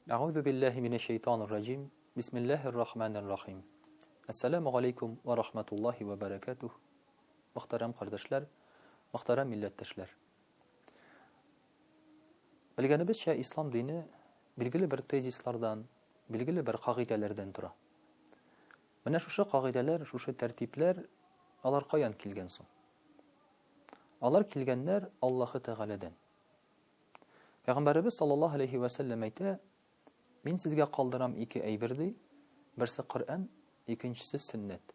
Әгъүзу биллаһи минәш шәйтанир раҗим. Бисмиллаһир рахманир рахим. Ассаламу галейкум ва рахматуллаһи ва баракатуһ. Мөхтәрәм кардәшләр, мөхтәрәм милләттәшләр. Белгәнебезчә, ислам дине билгеле бер тезислардан, билгеле бер кагыйдәләрдән тора. Менә шушы кагыйдәләр, шушы тәртипләр алар каян килгән соң? Алар килгәннәр Аллаһы Тәгаләдән. Пәйгамбәребез саллаллаһу алейһи вә сәлләм әйтә, Мин сезгә калдырам ике әйбер ди, берсе Коръән, икенчесе сөннәт.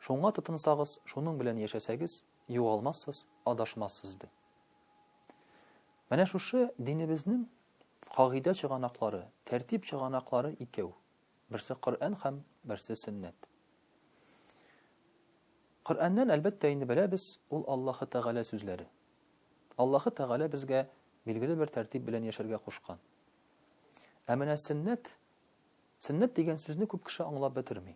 Шуңа тотынсагыз, шуның белән яшәсәгез, югалмассыз, адашмассыз ди. Менә шушы динебезнең кагыйдә чыганаклары, тәртип чыганаклары икәү. Берсе Коръән һәм берсе сөннәт. Коръәннән, әлбәттә, инде беләбез, ул Аллаһы Тәгалә сүзләре. Аллаһы Тәгалә безгә билгеле бер тәртип белән яшәргә кушкан. Ә менә сөннәт, сөннәт дигән сүзне күп кеше аңлап бетерми.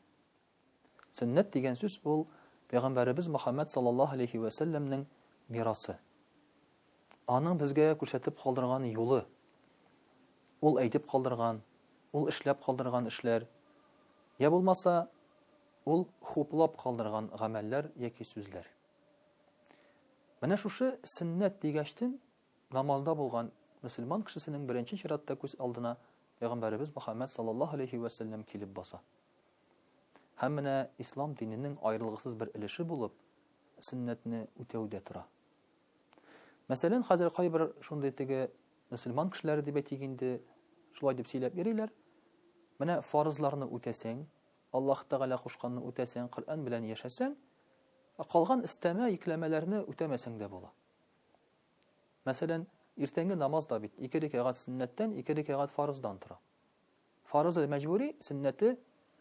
Сөннәт дигән сүз ул Пәйгамбәребез Мөхәммәд саллаллаһу алейһи вә сәлләмнең мирасы. Аның безгә күрсәтеп калдырган юлы. Ул әйтеп калдырган, ул эшләп калдырган эшләр, я булмаса, ул хуплап калдырган гамәлләр яки сүзләр. Менә шушы сөннәт дигәчтен намазда булган мөселман кешесенең беренче чиратта күз алдына Пәйгамбәребез Мөхәммәд саллаллаһу алейһи вә сәлләм килеп баса. Һәм менә ислам диненең аерылгысыз бер өлеше булып сөннәтне үтәү дә тора. Мәсәлән, хәзер кайбер шундый теге мөселман кешеләре дип әйтик инде, шулай дип сөйләп йөриләр. Менә фарызларны үтәсәң, Аллаһ Тәгалә кушканны үтәсәң, Коръән белән яшәсәң, ә калган өстәмә йөкләмәләрне үтәмәсәң дә була. Мәсәлән, иртәнге намаз да бит ике рикәгать сөннәттән, ике рикәгать фарыздан тора. Фарызы мәҗбүри, сөннәте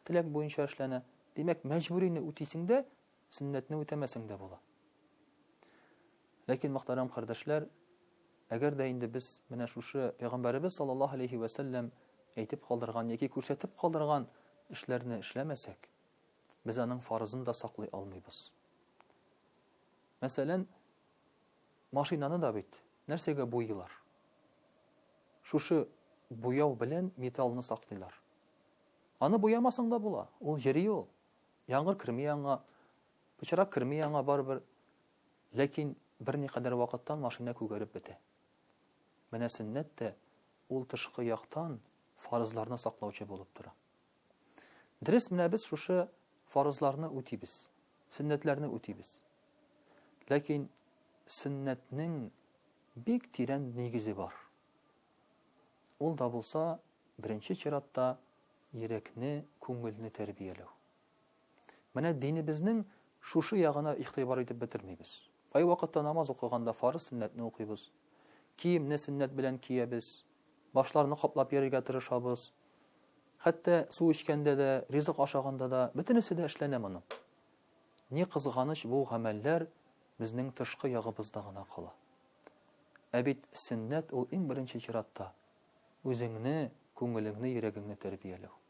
теләк буенча эшләнә. Димәк, мәҗбүрине үтисең дә, сөннәтне үтәмәсең дә була. Ләкин, мөхтәрәм кардәшләр, әгәр дә инде без менә шушы Пәйгамбәребез саллаллаһу алейхи вә сәлләм әйтеп калдырган яки күрсәтеп калдырган эшләрне эшләмәсәк, без аның фарызын да саклый алмыйбыз. Мәсәлән, Машинаны да бит нәрсәгә буйыйлар? Шушы буяу белән металлны саклыйлар. Аны буямасаң да була, ул йөри ул. Яңгыр керми аңа, пычрак керми аңа барыбер. Ләкин берникадәр вакыттан машина күгәреп бетә. Менә сөннәт тә ул тышкы яктан фарызларны саклаучы булып тора. Дөрес, менә без шушы фарызларны үтибез, сөннәтләрне үтибез. Ләкин сөннәтнең бик тирән нигезе бар. Ул да булса, беренче чиратта йөрәкне, күңелне тәрбияләү. Менә динебезнең шушы ягына игътибар итеп бетермибез. Ай вакытта намаз укыганда фарыз сөннәтне укыйбыз. Киемне сөннәт белән киябез. Башларны каплап йөрергә тырышабыз. Хәтта су эчкәндә дә, ризык ашаганда да, бөтенесе дә эшләнә моның. Ни кызганыч, бу гамәлләр безнең тышкы ягыбызда гына кала. Ә бит сөннәт ул иң беренче чиратта үзеңне, күңелеңне, йөрәгеңне тәрбияләү.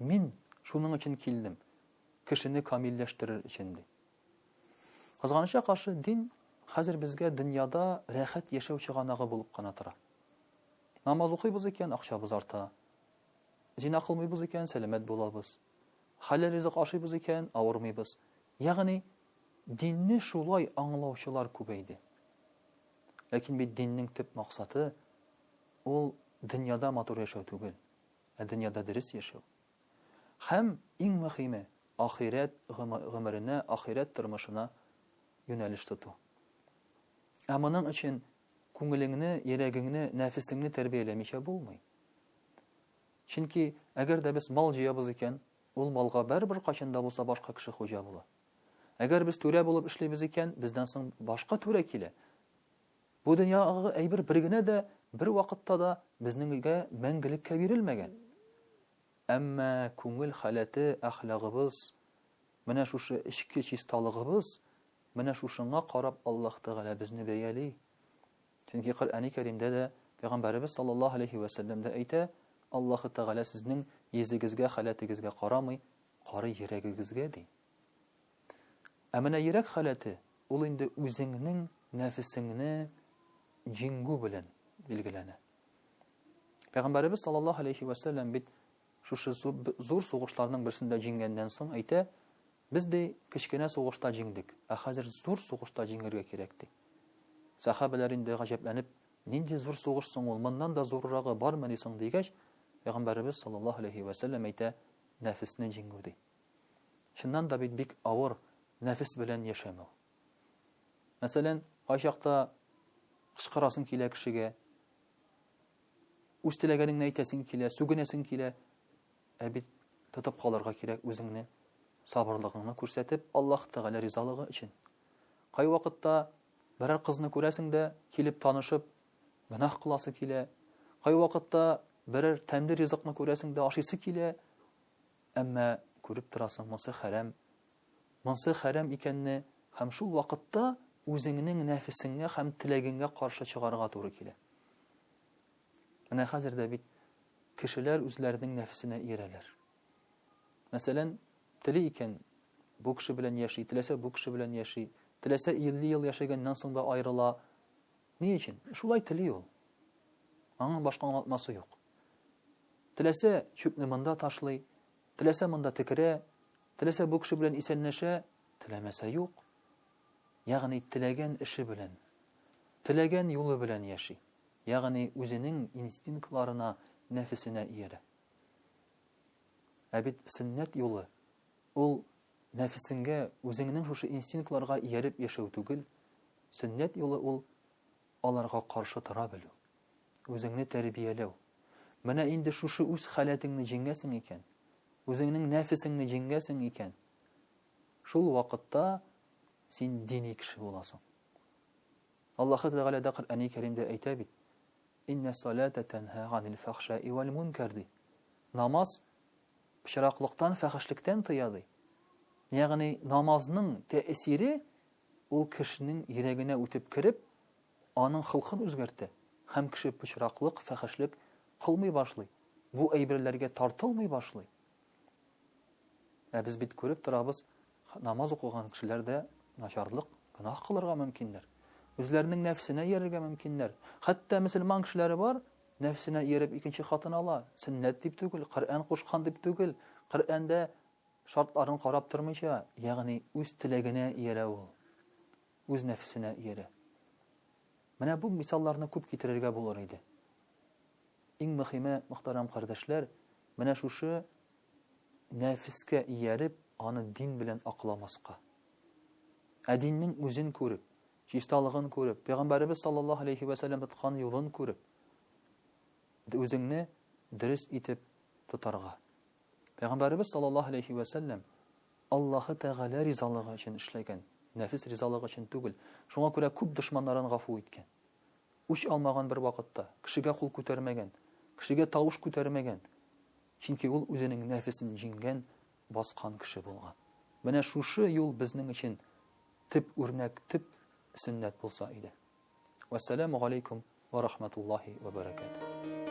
Мин шуның өчен килдем, кешене камилләштерер өчен, ди. Кызганычка каршы, дин хәзер безгә дөньяда рәхәт яшәү чыганагы булып кына тора. Намаз укыйбыз икән, акчабыз арта. Зина кылмыйбыз икән, сәламәт булабыз. Хәләл ризык ашыйбыз икән, авырмыйбыз. Ягъни динне шулай аңлаучылар күбәйде. Ләкин бит диннең төп максаты ул дөньяда матур яшәү түгел. ә дөньяда дөрес яшәү. Һәм, иң мөхиме, ахирәт гомеренә, ахирәт тормышына юнәлеш тоту. Ә моның өчен күңелеңне, йөрәгеңне, нәфесеңне тәрбияләмичә булмый. Чөнки, әгәр дә без мал җыябыз икән, ул малга барыбер кайчан да булса башка кеше хуҗа була. Әгәр без түрә булып эшлибез икән, бездән соң башка түрә килә. Бу дөньядагы әйбер бер генә дә, бер вакытта да безнең өйгә мәңгелеккә бирелмәгән. Әмма күңел халәте, әхлагыбыз, менә шушы эчке чисталыгыбыз, менә шушыңа карап Аллаһ Тәгалә безне бәяли. Чөнки Коръәни Кәримдә дә Пәйгамбәребез саллаллаһу алейһи вә сәлләм дә әйтә, Аллаһ Тәгалә сезнең йөзегезгә, халәтегезгә карамый, карый йөрәгегезгә, ди. Ә менә йөрәк халәте, ул инде үзеңнең нәфесеңне җиңү белән билгеләнә. Пәйгамбәребез саллаллаһу алейхи ва сәлләм бит шушы зур сугышларның берсендә җиңгәннән соң әйтә, без ди кечкенә сугышта җиңдек, ә хәзер зур сугышта җиңергә кирәк ди. Сахабәләр инде гаҗәпләнеп, нинди зур сугыш соң ул, моннан да зуррагы бармы ди соң дигәч, Пәйгамбәребез саллаллаһу алейхи ва сәлләм әйтә, нәфесне җиңү ди. Чыннан да бит бик авыр нәфес белән яшәм ул. Мәсәлән, кайчакта кычкырасың килә кешегә, үз теләгәнеңне әйтәсең килә, сүгенәсең килә, ә бит тотып калырга кирәк үзеңне, сабырлыгыңны күрсәтеп, Аллаһ Тәгалә ризалыгы өчен. Кайвакытта берәр кызны күрәсең дә, килеп танышып, гөнаһ кыласы килә. Кайвакытта берәр тәмле ризыкны күрәсең дә, ашыйсы килә, Әмма, күреп торасың, монсы хәрам. Монсы хәрам икәнне һәм шул вакытта үзеңнең нәфесеңгә һәм теләгеңгә каршы чыгарга туры килә. Менә хәзер дә бит кешеләр үзләренең нәфесенә иярәләр. Мәсәлән, тели икән, бу кеше белән яши, теләсә бу кеше белән яши, теләсә 50 ел яшәгәннән соң да аерыла, Ни өчен? Шулай тели ул. Аңа башка аңлатмасы юк. Теләсә чүпне монда ташлый, теләсә монда текерә, теләсә бу кеше белән исәнләшә, теләмәсә юк. Ягъни теләгән эше белән, теләгән юлы белән яши. Ягъни үзенең инстинктларына, нәфесенә иярә. Ә бит сөннәт юлы ул Нәфесеңгә, үзеңнең шушы инстинктларга ияреп яшәү түгел, сөннәт юлы ул, аларга каршы тора белү, үзеңне тәрбияләү. Менә инде шушы үз халәтеңне җиңгәсең икән, үзеңнең нәфесеңне җиңгәсең икән, шул вакытта син дини кеше буласың. Аллаһы Тәгалә дә Коръәни Кәримдә әйтә бит: "Инна салата танха ганил фахшаи валь мункар" ди. Намаз пычраклыктан, фәхешлектән тыя, ди. Ягъни намазның тәэсире ул кешенең йөрәгенә үтеп кереп, аның холкын үзгәртә һәм кеше пычраклык, фәхешлек кылмый башлый, бу әйберләргә тартылмый башлый. Ә без бит күреп торабыз, Намаз укыган кешеләр дә начарлык, гөнаһ кылырга мөмкиннәр. Үзләренең нәфсенә иярергә мөмкиннәр. Хәтта мөселман кешеләре бар, нәфсенә ияреп икенче хатын ала. Сөннәт дип түгел, Коръән кушкан дип түгел. Коръәндә шартларын карап тормыйча, ягъни үз теләгенә иярә ул. Үз нәфсенә иярә. Менә бу мисалларны күп китерергә булыр иде. Иң мөхиме, мөхтәрәм кардәшләр, менә шушы нәфескә ияреп, аны дин белән акламаска. Ә диннең үзен күреп, чисталыгын күреп, пәйгамбәребез саллаллаһу алейхи ва сәлләм тоткан юлын күреп, үзеңне дөрес итеп тотарга. Пәйгамбәребез саллаллаһу алейхи ва сәлләм Аллаһы Тәгалә ризалыгы өчен эшләгән, нәфис ризалыгы өчен түгел. Шуңа күрә күп дошманнарын гафу иткән. Үч алмаган бер вакытта, кешегә кул күтәрмәгән, кешегә тавыш күтәрмәгән. Чөнки ул үзенең нәфесен җиңгән, баскан кеше булган. Менә шушы юл безнең өчен төп үрнәк, төп сөннәт булса иде. Вассаламу галейкум ва рахматуллахи ва баракатуһ.